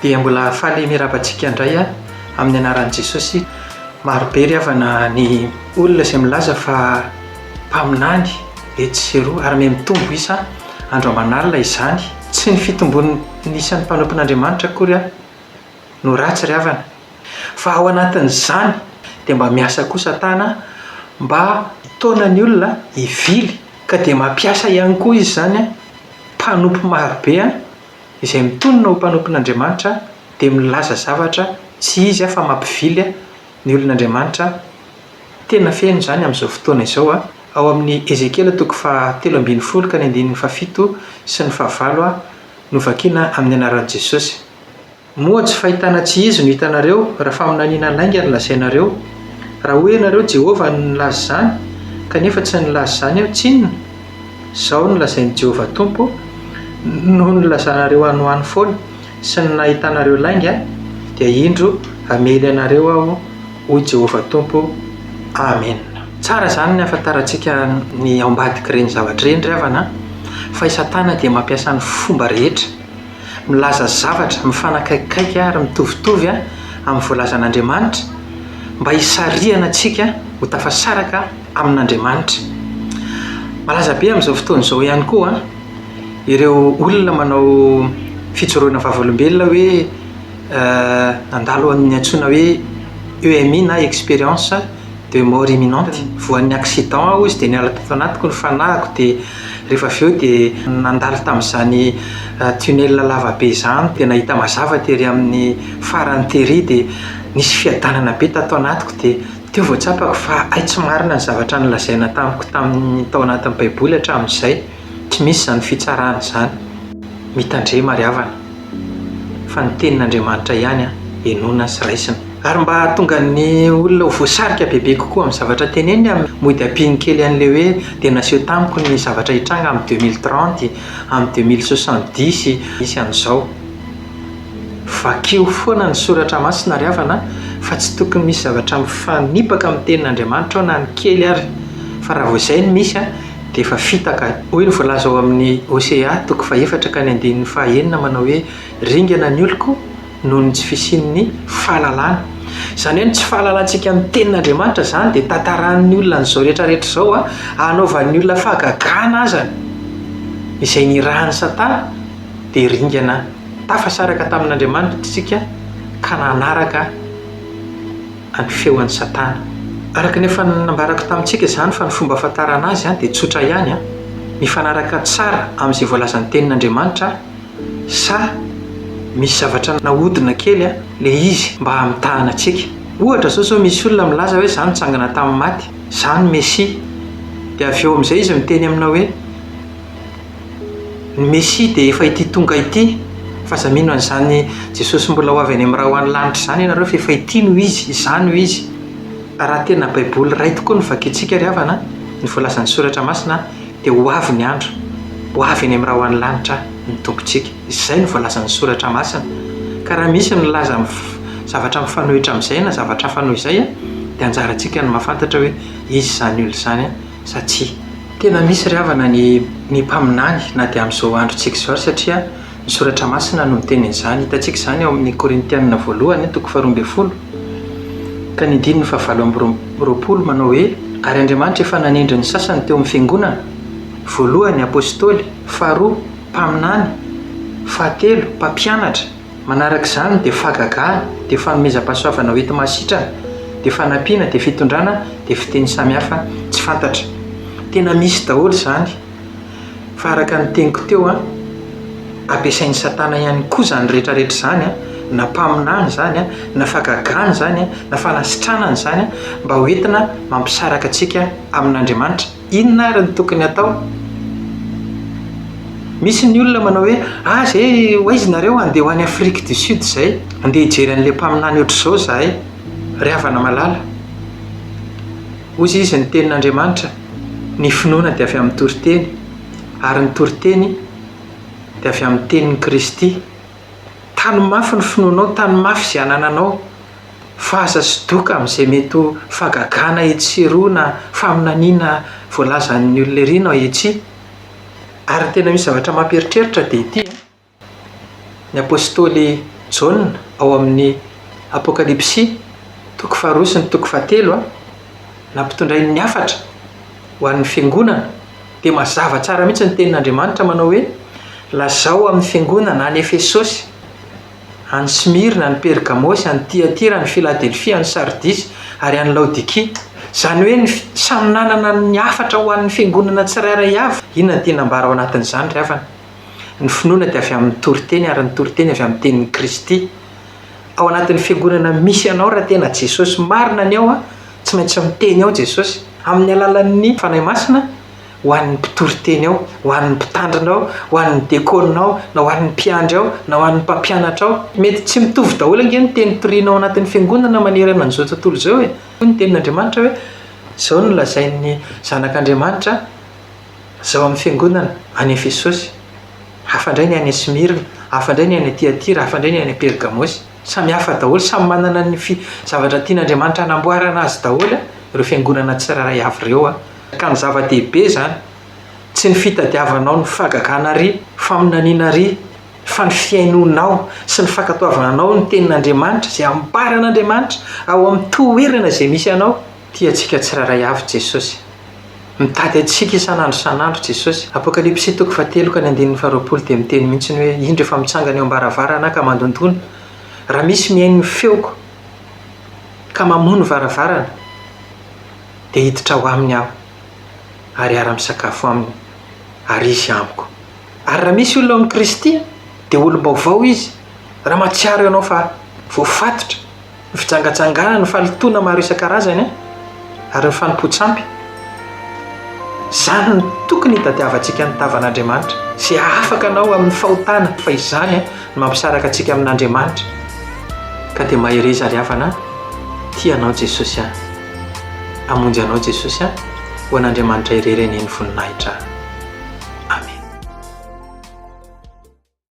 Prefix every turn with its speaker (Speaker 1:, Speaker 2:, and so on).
Speaker 1: dia mbola faly mirava antsika indray a amin'ny anaran'i jesosy marobe ry havana ny olona izay milaza fa mpaminany etsy sy eroa ary mihamitombo isa andro aman'alina izany tsy ny fitombon'ny isan'ny mpanompon'andriamanitra akory a no ratsy ry havana fa ao anatin'izany dia mba miasa koa satana mba hitaona ny olona hivily ka dia mampiasa ihany koa izy izany mpanompo marobe izay mitonona ho mpanompon'Andriamanitra dia milaza zavatra tsy izy fa mampivily ny olon'Andriamanitra tena feno izany amin'izao fotoana izao ao amin'ny Ezekiela toko faha telo ambin'ny folo ka ny andininy faha fito sy ny faha valo no vakiana amin'ny anaran'i Jesosy Moa tsy fahitana tsy izy no hitanareo, raha faminaniana lainga no lazainareo? Raha hoy ianareo, 'Jehovah no nilaza izany, kanefa tsy nilaza izany aho, tsinona? Izao no lazain'i Jehovah Tompo, Noho ny nilazanareo hanohano foana sy ny nahitanareo lainga, dia indro hamely anareo aho, hoy Jehovah Tompo. Amena. Tsara izany ny hahafantarantsika ny ao ambadik'ireny zavatra ireny ry havana an! Fa i Satana dia mampiasa ny fomba rehetra. milaza zavatra mifanakaikikaiky ary mitovitovy amin'ny voalazan'Andriamanitra, mba hisarihana antsika ho tafasaraka amin'Andriamanitra. Malaza be amin'izao fotoana izao ihany koa ireo olona manao fijoroana vavolombelona hoe nandalo ny antsoina hoe EMI na expérience. de mort imminente, voan'ny accident aho izy de niala tato anatiko ny fanahiko de rehefa avy eo dia nandalo tamin'izany tunnel lavabe izany dia nahita mazava tery amin'ny farany tery dia nisy fiadanana be tato anatiko dia teo vao tsapako fa hay tsy marina ny zavatra nolazaina tamiko tamin'ny tao anatin'ny baiboly hatramin'izay, tsy misy izany fitsarana izany, mitandrema ry havana. fa ny tenin'Andriamanitra ihany henoina sy raisina. Ary mba hahatonga ny olona ho voasarika bebe kokoa amin'ny zavatra teneniny amin'ny mody ampiany kely an'ilay hoe dia naseho tamiko ny zavatra hitranga amin'ny deux mille trente, amin'ny deux mille soixante dix sy amin'izao. Vakio foana ny soratra masina ry havana an, fa tsy tokony misy zavatra mifanipaka amin'ny tenin'Andriamanitra ao na ny kely ary, fa raha vao izay no misy an, dia efa fitaka. Hoy ny voalaza ao amin'ny Hosea toko fahefatra ka ny andininy fahaenina manao hoe, Ringana ny oloko noho ny tsy fisian'ny fahalalana. Izany hoe ny tsy fahalalantsika ny Tenin'Andriamanitra izany dia tantarain'ny olona an'izao rehetrarehetra izao, hanaovan'ny olona fahagagana aza izay nirahan'i Satana, dia ringana tafasaraka tamin'Andriamanitra isika ka nanaraka ny feo an'i Satana. Araka ny efa nambarako tamintsika izany fa ny fomba ahafantarana azy dia tsotra ihany, mifanaraka tsara amin'izay voalazan'ny tenin'Andriamanitra sa misy zavatra nahodina kely ilay izy mba hamitahana antsika. Ohatra izao izao misy olona milaza hoe za nitsangana tamin'ny maty, za no Mesia. Dia avy eo amin'izay izy miteny aminao hoe. Ny Mesia dia efa ity tonga ity, fa aza mino an'izany Jesosy mbola ho avy any amin'ny ra ho any lanitra izany ianareo fa efa ity no Izy, izany no Izy. Raha tena Baiboly iray tokoa no vakintsika ry havana an, ny voalazan'ny Soratra Masina an, dia ho avy ny andro, ho avy any amin'ny ra ho any lanitra ny Tompontsika. Izay no voalazan'ny Soratra Masina. Ka raha misy milaza mifa- zavatra mifanohitra amin'izay na zavatra hafa noho izay an, dia anjarantsika ny mahafantatra hoe iza izany olona izany an. satria. Tena misy ry havana ny ny mpaminany na dia amin'izao androntsika izao ary satria ny soratra masina no miteny an'izany. Hitantsika izany ao amin'ny Korintianina voalohany toko faharoa ambin'ny folo ka ny andininy fahavalo amby roapolo manao hoe, ary Andriamanitra efa nanendry ny sasany teo amin'ny fiangonana, voalohany, apostoly, faharoa, mpaminany, fahatelo, mpampianatra, Manaraka izany dia fahagagana, dia fanomezam-pahasoavana ho enti-mahasitrana, dia fanampiana, dia fitondrana, dia fiteny samihafa tsy fantatra. Tena misy daholo izany, fa araka ny teniko teo an, ampiasain'i Satana ihany koa izany rehetrarehetra izany an, na mpaminany izany an, na fahagagana izany an, na fanasitranana izany an, mba ho entina mampisaraka antsika amin'Andriamanitra. Inona ary no tokony hatao? Misy ny olona manao hoe, ah zay ho aiza nareo handeha ho any Afrique du Sud zay, handeha hijery an'ilay mpaminany ohatr'izao zahay. Ry havana malala, hozy izy ny tenin'Andriamanitra, ny finoana dia avy amin'ny toriteny, ary ny toriteny dia avy amin'ny tenin'i Kristy. Tano mafy ny finoanao, tano mafy izay anananao. fa aza sy doka amin'izay mety ho fahagagana etsy sy eroa na faminaniana voalazan'ny olona ery no etsy. Ary ny tena misy zavatra mampieritreritra dia ity an! Ny apostoly Jaona ao amin'ny Apokalypsy toko faharoa sy ny toko fahatelo an! nampitondrainy ny hafatra ho an'ny fiangonana dia mazava tsara mihitsy ny tenin'Andriamanitra manao hoe, Lazao amin'ny fiangonana any Efesosy, any Smirna, any Pergamosy, any Tyatira, any Filadelfia, any Sardisy, ary any Laodikia, izany hoe ny samy nanana ny hafatra ho an'ny fiangonana tsirairay avy. Inona no tiana ambara ao anatin'izany, ry havana? Ny finoana dia avy amin'ny toriteny, ary ny toriteny avy amin'ny tenin'i Kristy. Ao anatin'ny fiangonana misy anao, raha tena Jesosy marina ny ao, tsy maintsy miteny ao Jesosy, amin'ny alalan'ny Fanahy Masina, ho an'ny mpitory teny ao, ho an'ny mpitandrina ao, ho an'ny dekôna ao, na ho an'ny mpiandry ao, na ho an'ny mpampianatra ao. Mety tsy mitovy daholo ange ny teny toriana ao anatin'ny fiangonana manerana an'izao tontolo izao e. Hoy ny Tenin'Andriamanitra hoe, Izao no lazain'ny Zanak'Andriamanitra izao amin'ny fiangonana any Efesôsy, hafa indray ny any Esmirna, hafa indray ny any Tiatira, hafa indray ny any Pergamôsy. Samy hafa daholo, samy manana ny zavatra tian'Andriamanitra hanamboarana azy daholo ireo fiangonana tsirairay avy ireo. Ka ny zava-dehibe izany, tsy ny fitadiavanao ny fahagagana àry, faminaniana àry, fa ny fihainoanao sy ny fankatoavanao ny Tenin'Andriamanitra, izay ambaran'Andriamanitra ao amin'ny toerana izay misy anao. Tia antsika tsirairay avy Jesosy. Mitady antsika isan'andro isan'andro Jesosy. Apokalypsy toko fahatelo ka ny andininy faharoapolo dia miteny mihitsy hoe, Indro efa mitsangana eo am-baravarana aho ka mandondona. Raha misy mihaino ny feoko ka mamoha ny varavarana, dia hiditra ao aminy aho ary hiara-misakafo aminy ary izy amiko. Ary raha misy olona ao amin'i Kristy, dia olom-baovao izy, raha mahatsiaro ianao fa voafatotra ny fijangajangana, ny fahalotoana maro isan-karazany an, ary ny fanompoan-tsampy, izany no tokony hitadiavantsika ny tavan'Andriamanitra sy hahafaka anao amin'ny fahotana, fa izany an no mampisaraka antsika amin'Andriamanitra, ka dia mahereza ry havana an, tia anao Jesosy an. Hamonjy anao Jesosy a! Ho an'Andriamanitra irery anie ny voninahitra a! Amen.